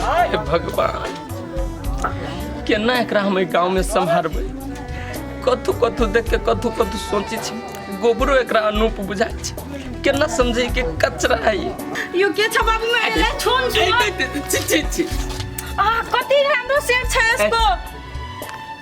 हे भगवान केना एकरा हम एहि गाँवमे सम्हारबै कथू कथू देख के कथू कथू सोचै छी गोबरो एकरा अनूप बुझाइ छै केना समझै के कचरा है ई। यो के छ बाबू मैं ले छोड़ ए, ए, ए, छी छी छी आ कति राम्रो सेट छ यसको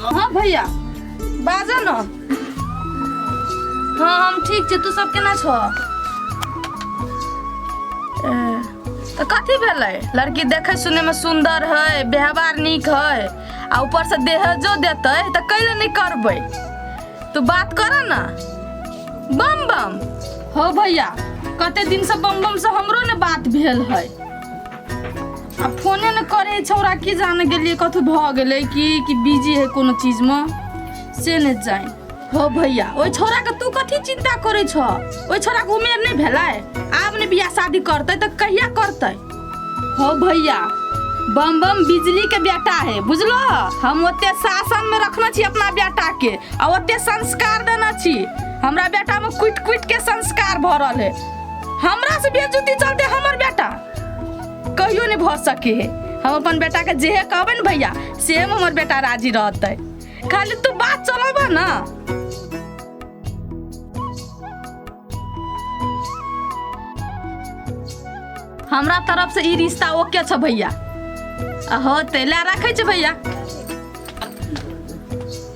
हँ भैया बाजऽ न हँ हम ठीक छी तू सब केना छऽ ए, तऽ कथी भेलै लड़की देखै सुनैमे सुन्दर है व्यवहार नीक है आ ऊपरसँ देहजो देतै तऽ कैले नहि करबै तू बात कर न बम बम हो भैया कते दिनसँ बम बमसँ हमरो ने बात भेल है आ फोने ने करै छौरा की जाने गेलियै कथू भऽ गेलै कि कि बिजी है कोनो चीजमे से नहि जान हो भैया ओहि छौराके तू कथी चिन्ता करै छह ओहि छौराके उमेर नहि भेलै आब ने बियाह शादी करतै तऽ कहिया करतै हो भैया बम बम बिजली के बेटा है बुझलो हम ओते शासन में रखने छी अपना बेटा के आ ओते संस्कार देने छी हमरा बेटा में कुट कुट के संस्कार भरल है हमरा से बेजुती चलते हमर बेटा कहियो नहीं भऽ सके है हम अपन बेटा के जेहे कहबे ने भैया से में हमर बेटा राजी रहते खाली तू बात चलब ना हमरा तरफ से ई रिश्ता ओके छ भैया हो तैला राखे छ भैया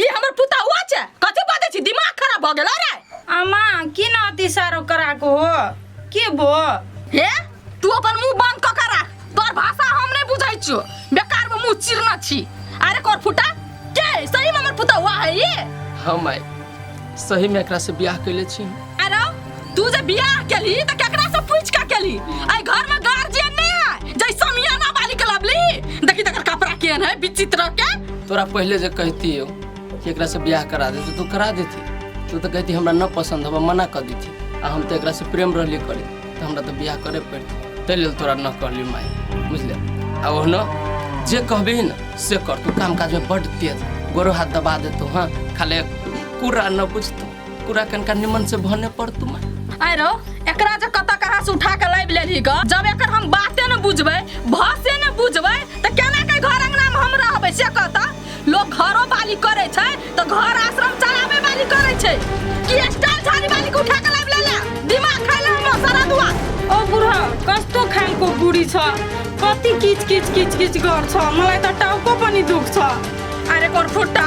ई हमर पुता हुआ छे कथी बाते छी दिमाग खराब भ गेल रे अम्मा की ना अति सारो करा को हो की बो हे तू अपन मुंह बंद क के राख तोर भाषा हम नहीं बुझै छियो बेकार में मुंह चिरना छी अरे कोर फुटा के सही में हमर पुता हुआ है ये हम आए सही में एकरा से ब्याह कैले छी अरे तू जे बियाह केली त केकरा से पूछ के केली आई घर में गार्जियन नहीं है जै समियाना वाली के लबली देखी तकर कपड़ा केन है विचित्र के तोरा पहले जे कहती हो कि एकरा से ब्याह करा देती तू करा देती तू तो कहती हमरा न पसंद होबा मना कर देती आ हम तो एकरा से प्रेम रहली करे तो हमरा तो ब्याह करे पड़ती ताहि लेल तोरा न कहली माय बुझले आ ओहनो जे कहबी न से कर तू काम काज में बड तेज गोरो हाथ दबा देतो हाँ खाली कुरा न बुझतो पूरा कनका निमन से भने पर तुम आय रो एकरा जे कत कहाँ से उठा के लाइब लेली ग जब एकर हम बाते न बुझबै भाषे न बुझबै त केना के घर अंगना में हम रहबै से कहता लोग घरो बाली करे छै त घर आश्रम चलावे वाली करे छै कि स्टाइल झाड़ी वाली के उठा के लाइब लेला दिमाग खैला हम सारा दुआ ओ बुढ़ा कस्तो खानको बुढी छ कति किच किच किच किच गर्छ मलाई त टाउको पनि दुख्छ अरे कोर फुट्टा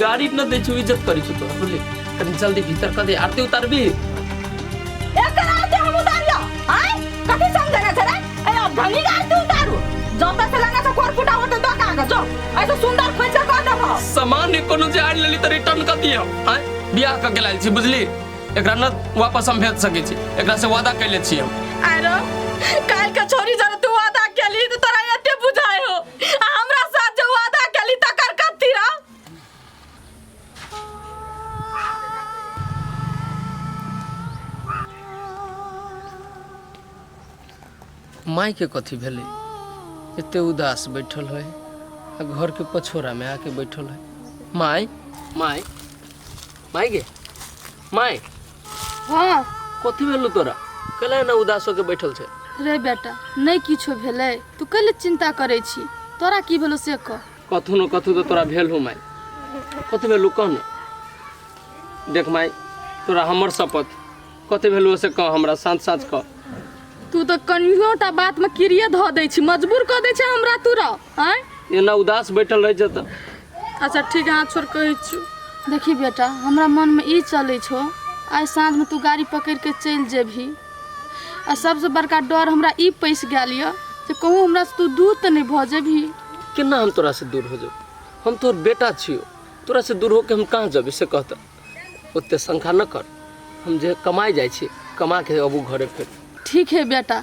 गाड़ी न दे छु इज्जत करी छु तो बोले तनी जल्दी भीतर कर दे आरती उतार भी एकर आते हम उतारियो आय कथी समझना छे रे ए अब धनी गाड़ तू उतारू जब तक लगा तो कोर फुटा होते तो का जो ऐसे सुंदर खोइचा कर देब सामान ने कोनो जे आड़ लेली त रिटर्न कर दियो आय बियाह क के लाइल छी बुझली एकरा न वापस हम भेज सके छी एकरा से वादा कैले छी हम आरो काल के छोरी जब तू वादा केली तो तोरा एते बुझाय हो आ हमरा साथ जो वादा कली तकर कथी रह माई के कथी भेलै एते उदास बैठल है आ घर के पछोरा में आके बैठल है माई माई माई गे माई हँ कथी भेलू तोरा कैला एना उदास होके बैठल छै रे बेटा नहि किछो भेलै तू कैले चिन्ता करै छी तोरा की भेलो से कह कथू न कथू तऽ तोरा भेल हो माय कथी भेलू कह न देख माय तोरा हमर शपथ कथी भेलू से कह हमरा साँच साँच कह तू तऽ कनियोटा बातमे किरिये धऽ दै छी मजबूर कऽ दै छै हमरा तोरा आँय एना उदास बैठल रहै छै तऽ अच्छा ठीक है हाथ छोड़ कहै छियौ देखी बेटा हमरा मनमे ई चलै छौ आइ साँझमे तू गाड़ी पकड़ि कऽ चलि जेबही आ सभसँ बड़का डर हमरा ई पैसि गेल यऽ जे कहूँ हमरासँ तू दूर तऽ नहि भऽ जेबही केना हम तोरा से दूर हो जाऊ हम तोर बेटा छियो तोरा से दूर होके हम कहाँ जेबै से कहता ओते शंका न कर हम जे कमाए जाइ छी कमा के अबू घरे फेर ठीक है बेटा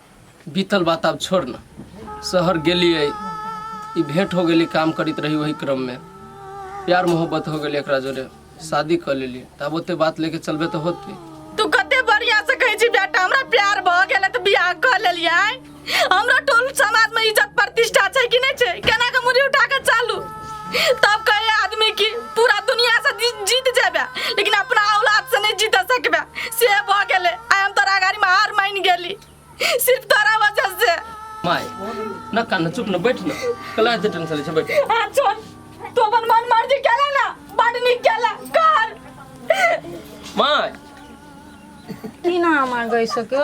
बीतल बात आब छोड़ न शहर गेलिए ई भेंट हो गेली काम करित रही वही क्रम में प्यार मोहब्बत हो गेली एकरा जोरे शादी कर लेली तब ओते बात लेके चलबे तो होती तू कते बढ़िया से कहै छी बेटा हमरा प्यार भ गेलै त बियाह क लेलियै हमरा टोल समाज में इज्जत प्रतिष्ठा छै कि नै छै केना के मुड़ी उठा के चालू तब कहे आदमी की पूरा दुनिया से जी- जीत जाबे लेकिन अपना औलाद से नहीं जीत सकबे से भ गेले आय हम तोरा गाड़ी में हार मान गेली सिर्फ तोरा वजह से माय न कान चुप न बैठ न कला दे टेंशन से बैठ आ छोड़ तू अपन मन मर्जी केला ना बड निक केला कर माय की ना हमार गई सको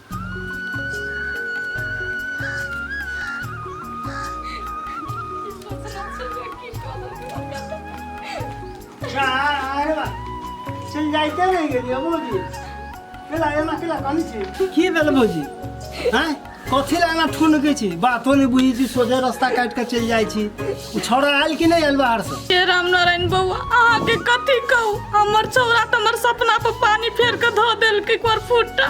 चल जाइते रह गेलिए भौजी केला एना केला कनी छी की भेल भौजी हैं कथी ला एना ठुन के छी बातो नहीं बुझी छी सोझे रास्ता काट के चल जाई छी उ छौड़ा आयल कि नहीं आयल बाहर से हे राम नारायण बउआ अहाँके कथी कहू हमर छौरा तऽ हमर सपना पर पानी फेर के धो देलकै एक बार फुटा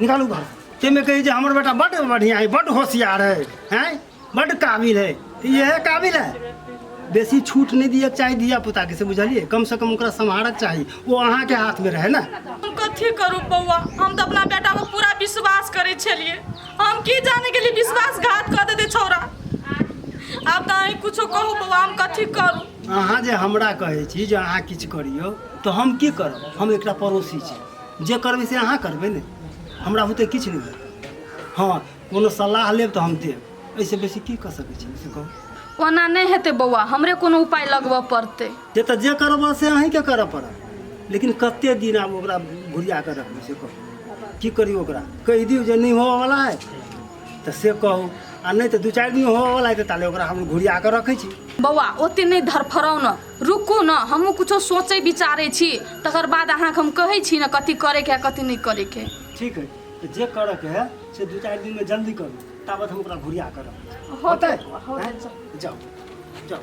निकालू घर ताहिमे कहै जे हमर बेटा बड्ड बढ़िआँ है बड्ड होशियार है हैं बड्ड काबिल है तऽ इएह काबिल है बेसी छूट नहि दिअ चाही धिया पुताके से बुझलियै कम से कम ओकरा सम्हारक चाही ओ अहाँके हाथमे रहै ने हम कथी करू बौआ हम तऽ अपना बेटा पर पूरा विश्वास करै छलियै हम की जाने के लिए विश्वासघात कऽ देते छौरा आब तऽ अहीं कुछो कहू बौआ हम कथी करू अहाँ जे हमरा कहै छी जे अहाँ किछु करियौ तऽ हम की करब हम एकटा पड़ोसी छी जे करबै से अहाँ करबै ने हमरा होते किछु नहि भेल हँ कोनो सलाह लेब तऽ हम देब एहिसँ बेसी की कऽ सकै छी से कहू ओना नहि हेतै बौआ हमरे कोनो उपाय लगबऽ पड़तै जे तऽ जे करब से अहीँके करऽ पड़त लेकिन कते दिन आब ओकरा घुरिया कऽ रखबै से कहू की करी ओकरा कहि दियौ जे नहि होवऽवला है तऽ से कहू आ नहि तऽ दू चारि दिन होवऽवला है तऽ ताले ओकरा हम घुरिया कऽ रखै छी बौआ ओते नहि धरफराउ ने रुकू ने हमहूँ किछो सोचै विचारै छी तकर बाद अहाँके हम कहै छी ने कथी करैके हइ कथी नहि करैके हइ ठीक है तो जे करऽ के है से दू चारि दिन में जल्दी करू ताबत हम ओकरा घुरिया करब होतै होतै, हैं? जाओ जाओ